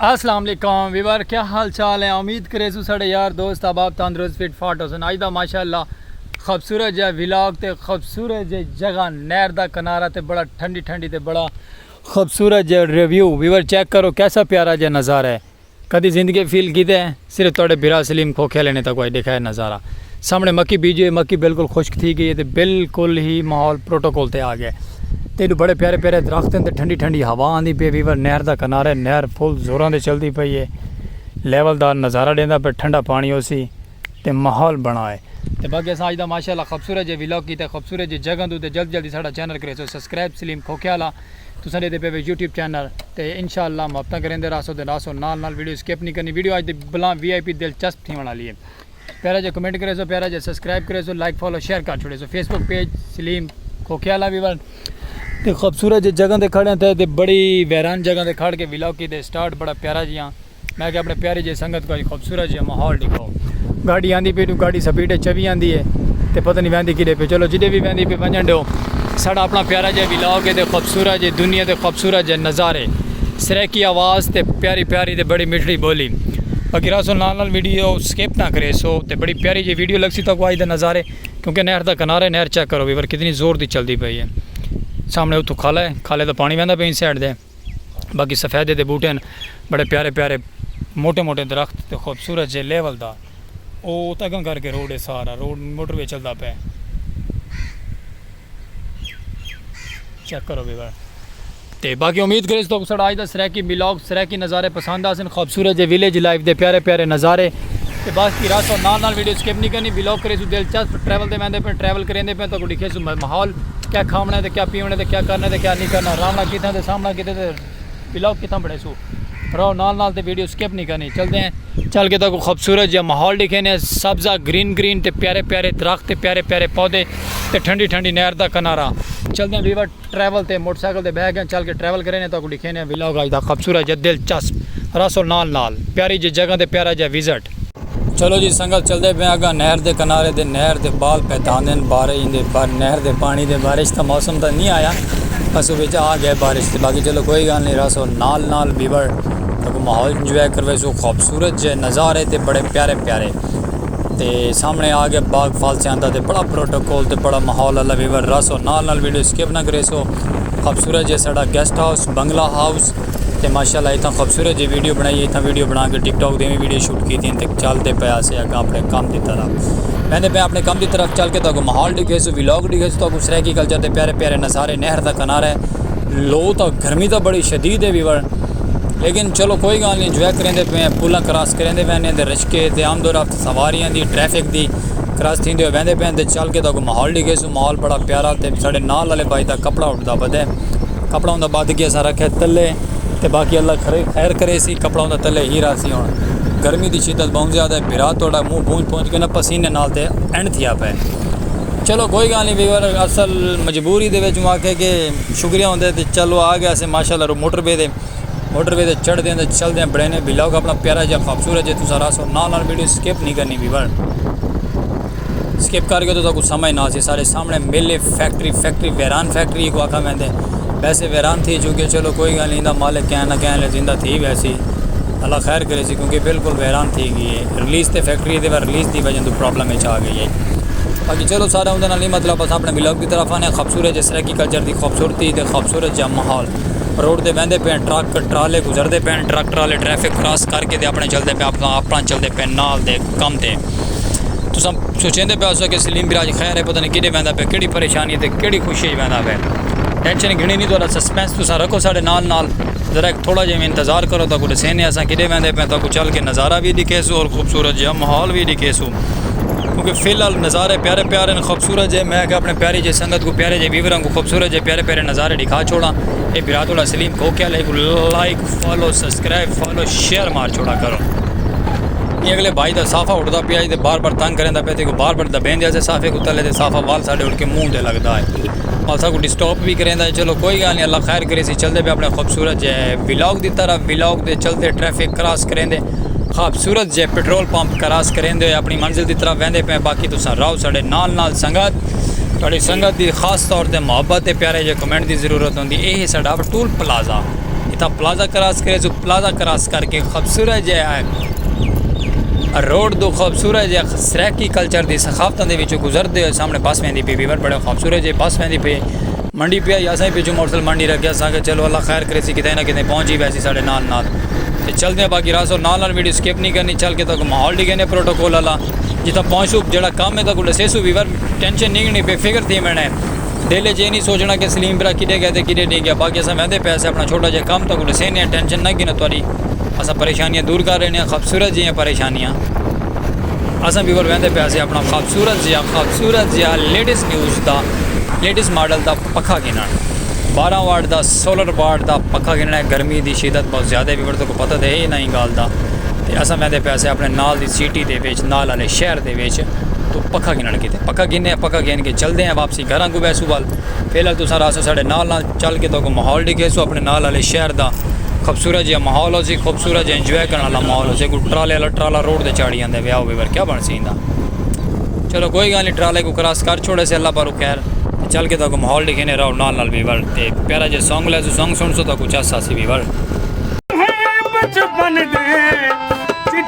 السلام علیکم ویور کیا حال چال ہے امید کرے سو سڑے یار دوست احباب تندرست فٹ فاٹ ہو سن اج دا ماشاءاللہ خوبصورت جے ولاگ تے خوبصورت جے جگہ نہر دا کنارہ تے بڑا ٹھنڈی ٹھنڈی تے بڑا خوبصورت جے ریویو ویور چیک کرو کیسا پیارا جے نظارہ ہے کدی زندگی فیل کیتے ہیں صرف تہاڈے بھرا سلیم کھوکھے آلے نے تاکوں اج ڈیکھایا نظارہ سامنے مکی بیجی ہوئی مکی بالکل خشک تھی گئی ہے تے بالکل ہی ماحول پروٹوکول تے آگیا ہے تے ایڈو بڑے پیارے پیارے درخت ہیں تے ٹھنڈی ٹھنڈی ہوا آندی پی ویور نہر دا کنارے نہر فل زوراں تے چلدی پئی ہے لیول دار نظارہ ڈیندا پے ٹھنڈا پانی ہوسی تے ماحول بنا ہے تے باقی اساں اج دا ماشاءاللہ خوبصورت جے ولاگ کیتے خوبصورت جے جگہ دو تے جلد جلدی ساڈا چینل کریسو سبسکرائب سلیم کھوکھے آلا تساں ڈیدے پے وے یوٹیوب چینل تے انشاء اللہ محبتاں کریندے راہسو تے راہسو نال نال ویڈیو سکپ نی کرنی ویڈیو اج دی بلاں وی آئی پی دلچسپ تھیونڑ آلی ہے پیارا جیا کمنٹ کریسو پیارا جیا سبسکرائب کریسو لائک فالو شیئر کر چھوڑیسو Facebook page Saleem Khokhe والا وی ول تے خوبصورت جے جگہ تے کھڑے ہیں تے بڑی ویران جگہ تے کھڑ کے ولاگ کیتے سٹارٹ بڑا پیارا جیاں میں کہ اپنے پیاری جی سنگت کو خوبصورت جی ماحول دکھاؤ گاڑی آندی پی تو گاڑی سپیڈ ہے چوی آندی ہے تے پتہ نہیں ویندی کدے پہ چلو جدے بھی ویندی پہ ونجن دیو ساڑا اپنا پیارا جی ویلاو کے دے خوبصورت جی دنیا دے خوبصورت جی نظارے سریکی آواز تے پیاری پیاری تے بڑی مٹھڑی بولی باقی راسو نال نال ویڈیو سکیپ نہ کرے سو تے بڑی پیاری جی ویڈیو لگ سی تو کو آج دے نظارے کیونکہ نہر دا کنارے نہر چیک کرو بھی پر کتنی زور دی چل دی پئی ہے سامنے اتھو کھالا ہے کھالے دا پانی ویندہ پہ ان سیڈ دے باقی سفیدے دے بوٹے ہن بڑے پیارے پیارے موٹے موٹے درخت تے خوبصورت جے لیول دا او ات اگاں کر کے روڈ ہے سارا روڈ موٹر وے چلدا پے چیک کرو بھی بڑا تے باقی امید کرے تو سڑا آج دا سریکی بلاگ سریکی نظارے پسند آسن خوبصورت جے ویلیج لائف دے پیارے پیارے نظارے تے باقی راسو نال نال ویڈیو سکپ نہیں کرنی بلاگ کرے سو دلچسپ ٹریول دے ویندے پے ٹریول کریں دے پے تو کو ڈکھے ماحول کیا کھاونڑاں تے کیا پیونڑاں تے کیا کرنڑاں تے کیا نی کرنڑاں راونڑاں کتھاں تے سامنڑاں کتھاں تے ولاگ کتھاں بنڑیسوں راہو نال نال تے ویڈیو سکپ نی کرنی چلدے ہیں چل کے تاکوں خوبصورت جیہاں ماحول ڈکھینے سبزہ گرین گرین تے پیارے پیارے درخت تے پیارے پیارے پودے تے ٹھنڈی ٹھنڈی نہر دا کنارہ چلدے ہیں ویور ٹریول تے موٹر سائیکل تے بہ گئے چل کے ٹریول کرینے تاکوں ڈکھینے ولاگ اج دا خوبصورت جا دلچسپ راسو نال نال پیاری جی جگہ تے پیارا جا وزٹ چلو جی سنگت چلدے پئے اگاں نہر دے کنارے دے نہر دے بال پیتاندن بارے ہی دے بار نہر دے پانی دے بارش دا موسم تاں نہیں آیا بس وچ آ گئے بارش دے باقی چلو کوئی گال نہیں راسو نال نال بیبر تاں کو ماحول انجوائے کر ویسو خوبصورت جے نظارے تے بڑے پیارے پیارے تے سامنے آ گئے باغ فالسیاں دا تے بڑا پروٹوکول تے بڑا ماحول اللہ بیبر راسو نال نال ویڈیو سکپ نہ کریسو خوبصورت جے ساڑا گیسٹ ہاؤس بنگلہ ہاؤس تے ماشاءاللہ اتنا خوبصورت جی ویڈیو بنائی ہے اتنا ویڈیو بنا کے ٹک ٹاک دے میں ویڈیو شوٹ کی تھی تے چل دے پے اسے اگا اپنے کم دی طرح میں دے پے اپنے کم دی طرح چل کے تو کو ماحول ڈیکھے سو ویلاگ ڈیکھے سو تو کو سرائیکی کلچر دے پیارے پیارے نظارے نہر دا کنارہ ہے لو تو گرمی تو بڑی شدید ہے ویور لیکن چلو کوئی گال نہیں انجوائے کریں دے پے پولاں کراس کریں دے وینے دے رشکے دے آمد و رفت سواریاں دی ٹریفک دی کراس تھی دے وینے دے پے تے چل کے تو کو ماحول ڈیکھے سو ماحول بڑا پیارا تے ساڑے نال والے بھائی دا کپڑا اٹھدا بدے کپڑا اوندا بدھ گیا سا رکھے تلے تے باقی اللہ کھرے خیر کرے سی کپڑا اوندا تلے ہی را سی ہن گرمی دی شدت بہوں زیادہ ہے بھرا توڑا منہ پونج پونج کے نا پسینے نال تے اینڈ تھیا پے چلو کوئی گال نہیں ویور اصل مجبوری دے وچ مواقع کے شکریہ ہوندے تے چلو آ گیا سے ماشاء اللہ موٹر وے دے موٹر وے دے چڑھ دیں تے چل دیں بڑے نے بلاگ اپنا پیارا جا خوبصورت جے تسا راسو نال نال ویڈیو سکپ نہیں کرنی ویور سکپ کر گئے تو تاکو سمجھ نہ آسی سارے سامنے مل فیکٹری فیکٹری ویران فیکٹری ایک واقعہ میں دے ویسے ویران تھی چکے چلو کوئی گالی نہیں دا مالک کہنا کہنا لے زندہ تھی ویسی اللہ خیر کرے سی کیونکہ بالکل ویران تھی گئی ہے ریلیز تے فیکٹری دے بار ریلیز دی وجہ تو پرابلم اچ آ گئی ہے باقی چلو سارا اندھے نالی مطلب بس اپنے بلاگ دی طرف آنے خوبصورت جس رہ کی کلچر دی خوبصورتی تے خوبصورت جا محول روڈ دے ویندے پین ٹرک ٹرالے گزر دے پین ٹرک ٹرالے ٹریفک کراس کر کے دے اپنے چل دے پین اپنا چل دے پین نال دے کم دے تساں سوچیندے پئے ہوسو کہ سلیم براج خیر ہے پتہ نی کیݙے ویندا پئے کیڑھی پریشانی تے کیڑھی خوشی اچ ویندا پئے ٹینشن گھنڑی نی تہاݙا سسپنس تساں رکھو ساݙے نال نال ذرا ہک تھوڑا جیہا انتظار کرو تہاکوں ݙسیندے اساں کیݙے ویندے پئے تہاکوں چل کے نظارہ وی ݙکھیسوں تے خوبصورت جیہا ماحول وی ݙکھیسوں کیونکہ فی الحال نظارے پیارے پیارے ہن خوبصورت جیہے میں آکھیا اپݨے پیاری جیہی سنگت کوں پیارے جیہے ویوراں کوں خوبصورت جیہے پیارے پیارے نظارے ݙکھا چھوڑاں اے بھرا تہاݙا سلیم کوکیل ہے like follow subscribe follow share مار چھوڑا کرو یہ اگلے بھائی دا صافہ اٹھدا پیا تے بار بار تنگ کریندا پیا تے کو بار بار دبین دیا سے صافے کو تلے تے صافہ وال ساڈے اٹھ کے منہ تے لگدا ہے وال سا کو ڈسٹاپ بھی کریندا ہے چلو کوئی گال نہیں اللہ خیر کرے سی چلدے پہ اپنے خوبصورت جے ولاگ دی طرح ولاگ دے چلدے ٹریفک کراس کریندے خوبصورت جے پٹرول پمپ کراس کریندے ہوئے اپنی منزل دی طرح ویندے پہ باقی تو سن راو ساڈے نال نال سنگت تھوڑی سنگت دی خاص طور تے محبت تے پیارے جے کمنٹ دی ضرورت ہوندی اے ہے ساڈا ٹول پلازہ اتھاں پلازہ کراس کرے سو پلازہ کراس کر کے خوبصورت جے آئے روڈ دو خوبصورت جے سریکی کلچر دی ثقافتاں دے وچوں گزر دے سامنے بس ویندی پی ویور بڑے خوبصورت جے بس ویندی پی منڈی پی آئی اساں پچھوں موٹر سائیکل منڈی رکھیا سانگے چلو اللہ خیر کرے سی کتنے نہ کتنے پہنچ ہی ویسی ساڑے نال نال تے چل دے باقی راسو نال نال ویڈیو سکپ نہیں کرنی چل کے تاکہ ماحول ڈیگے نے پروٹوکول اللہ جتھاں پہنچو جڑا کام ہے تاکہ لسے سو ویور ٹینشن نہیں گنی پی فکر تھی میں نے دل اچ ایہ نی سوچݨا کہ سلیم بھرا کݙھے ڳئے تے کݙھے نی ڳئے باقی اساں ویندے پئے ہسے اپݨا چھوٹا جیہا کم تہاکوں ݙسیندے ہاں ٹینشن نہ گھنو تہاݙی اساں پریشانیاں دور کر ݙیندے ہاں خوبصورت جیہیاں پریشانیاں اساں وی ول ویندے پئے ہسے اپݨا خوبصورت جیہا خوبصورت جیہا لیٹسٹ نیوز دا لیٹسٹ ماڈل دا پکھا گھنݨ بارہ واٹ دا سولر واٹ دا پکھا گھنݨ گرمی دی شدت بہت زیادہ ہے ویور تہاکوں پتہ تے ہے انہاں ایں ڳالھ دا تے اساں ویندے پئے ہسے اپݨے نال دی سٹی دے وچ نال آلے شہر دے وچ توں پکھا گھنݨ کیتے پکھا گھنے ہیں پکھا گھن کے چلدے ہیں واپسی گھراں کوں ویسوں وال فی الحال تساں رہسو ساڈے نال نال چل کے تہاکوں ماحول ڈیکھیسوں اپنے نال والے شہر دا خوبصورت جیہا ماحول ہوسی خوبصورت جیہا انجوائے کرݨ والا ماحول ہوسی اگوں ٹرالے والا ٹرالا روڈ تے چاڑھی آندے ویا ہووے ورکیا بݨ سی ایندا چلو کوئی گالھ نہیں ٹرالے کوں کراس کر چھوڑے سے اللہ پاک خیر تے چل کے تہاکوں ماحول ڈیکھینے رہو نال نال وی ول تے پیارا جیہا سانگ لائیسوں سانگ سݨسو تہاکوں چس آسی وی ول۔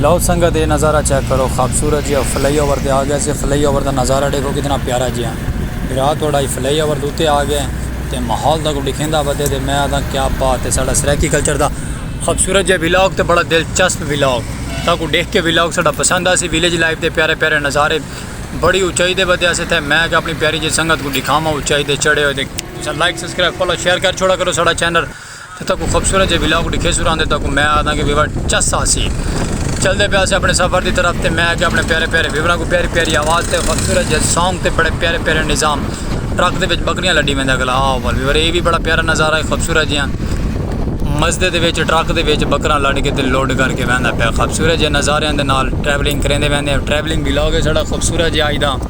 لو سنگت اے نظارہ چیک کرو خابصورت جیہا فلائی اوور تے آگئے سے فلائی اوور دا نظارہ ڈیکھو کتنا پیارا جیہا بھرا توڑا ہی فلائی اوور دے اتے آگئے تے ماحول دا کوئی ڈیکھیندا ودے تے میں آدھا کیا بات ہے ساڈا سرائیکی کلچر دا خابصورت جیہا ولاگ تے بڑا دلچسپ ولاگ تاں کو ڈیکھ کے ولاگ ساڈا پسند آسی ویلیج لائف دے پیارے پیارے نظارے بڑی اونچائی دے ودے آسے تھے میں آگئے اپنی پیاری جی سنگت کو ڈیکھاواں اونچائی دے چڑھے ہوئے تساں لائک سبسکرائب فالو شیئر کر چھوڑا کرو ساڈا چینل تے تہاکوں خوبصورت جے ولاگ ڈکھیسوں راہندے تہاکوں میں آہداں کہ ویور چس آسی چلدے پیا سے اپنے سفر دی طرف تے میں اگے اپنے پیارے پیارے ویوراں کو پیاری پیاری آواز تے خوبصورت جے سانگ تے بڑے پیارے پیارے نظام ٹرک دے وچ بکریاں لڈی ویندا گلا آ ول ویور اے وی بڑا پیارا نظارہ ہے خوبصورت جیاں مزدے دے وچ ٹرک دے وچ بکراں لڈ کے تے لوڈ کر کے ویندا پیا خوبصورت جے نظاریاں دے نال ٹریولنگ کریندے ویندے ٹریولنگ ولاگ ہے ساڈا خوبصورت جے آج دا۔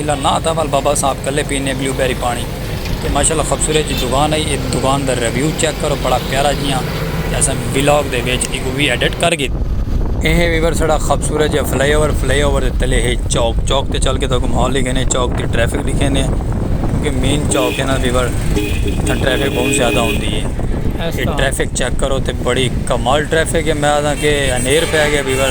اللہ ناں تھا وال بابا صاحب کلے پینے بلیو بیری پانی تے ماشاءاللہ خبصورت جی دکان ہے اے دکان دا ریویو چیک کرو بڑا پیارا جیاں تے اساں ولاگ دے وچ ایکوں وی ایڈٹ کر گھد۔ اے ہے ویور ساڑا خبصورت جیاں fly over fly over they تلے ہے چوک چوک تے چل کے تو اکوں ماحول لکھینے چوک دی ٹریفک لکھینے کیونکہ مین چوک ہے نا ویور اتھاں ٹریفک بہت زیادہ ہوندی ہے اے ٹریفک چیک کرو تے بڑی کمال ٹریفک ہے میں آدھاں کہ انیر پہ گیا ویور۔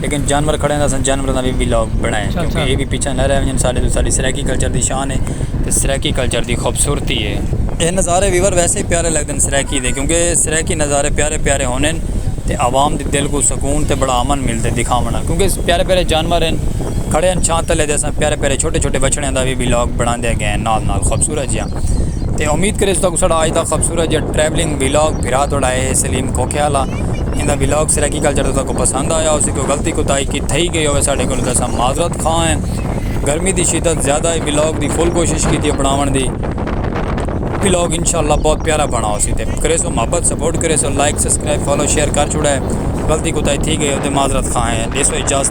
لیکن جانور کھڑے ہن تاں اساں جانوراں دا وی ولاگ بݨائے کیونکہ ایہ وی پچھاں نہ رہ ونڄن ساݙے توں ساݙی سرائیکی کلچر دی شان اے تے سرائیکی کلچر دی خوبصورتی اے۔ ایہ نظارے ویور ویسے ہی پیارے لڳدن سرائیکی دے کیونکہ سرائیکی نظارے پیارے پیارے ہوندن تے عوام دے دل کوں سکون تے بڑا امن ملدے دکھاوݨ نال کیونکہ پیارے پیارے جانور ہن کھڑے ہن چھاں تلے تے اساں پیارے پیارے چھوٹے چھوٹے وچھڑیاں دا وی ولاگ بݨاندے ڳئے ہن نال نال خوبصورت جیہاں تے امید کریس تہاکوں ساݙا اڄ دا خوبصورت جیہاں ٹریولنگ ولاگ بھرا تہاݙا اے ہے سلیم کھوکھیالہ۔ ایندا ولاگ سرائیکی کلچر توں تہاکوں پسند آیا ہوسی کوئی غلطی کوتاہی کی تھئی گئی ہووے ساڈے کولوں تاں اساں معذرت خواہ ہیں گرمی دی شدت زیادہ ہے ولاگ دی فل کوشش کیتی ہے بناون دی ولاگ انشاءاللہ بہت پیارا بنا ہوسی تے کریسو محبت سپورٹ کریسو لائک سبسکرائب فالو شیئر کر چھوڑے غلطی کوتاہی تھی گئی ہو تے معذرت خواہ ہیں ڈیسو اجازت۔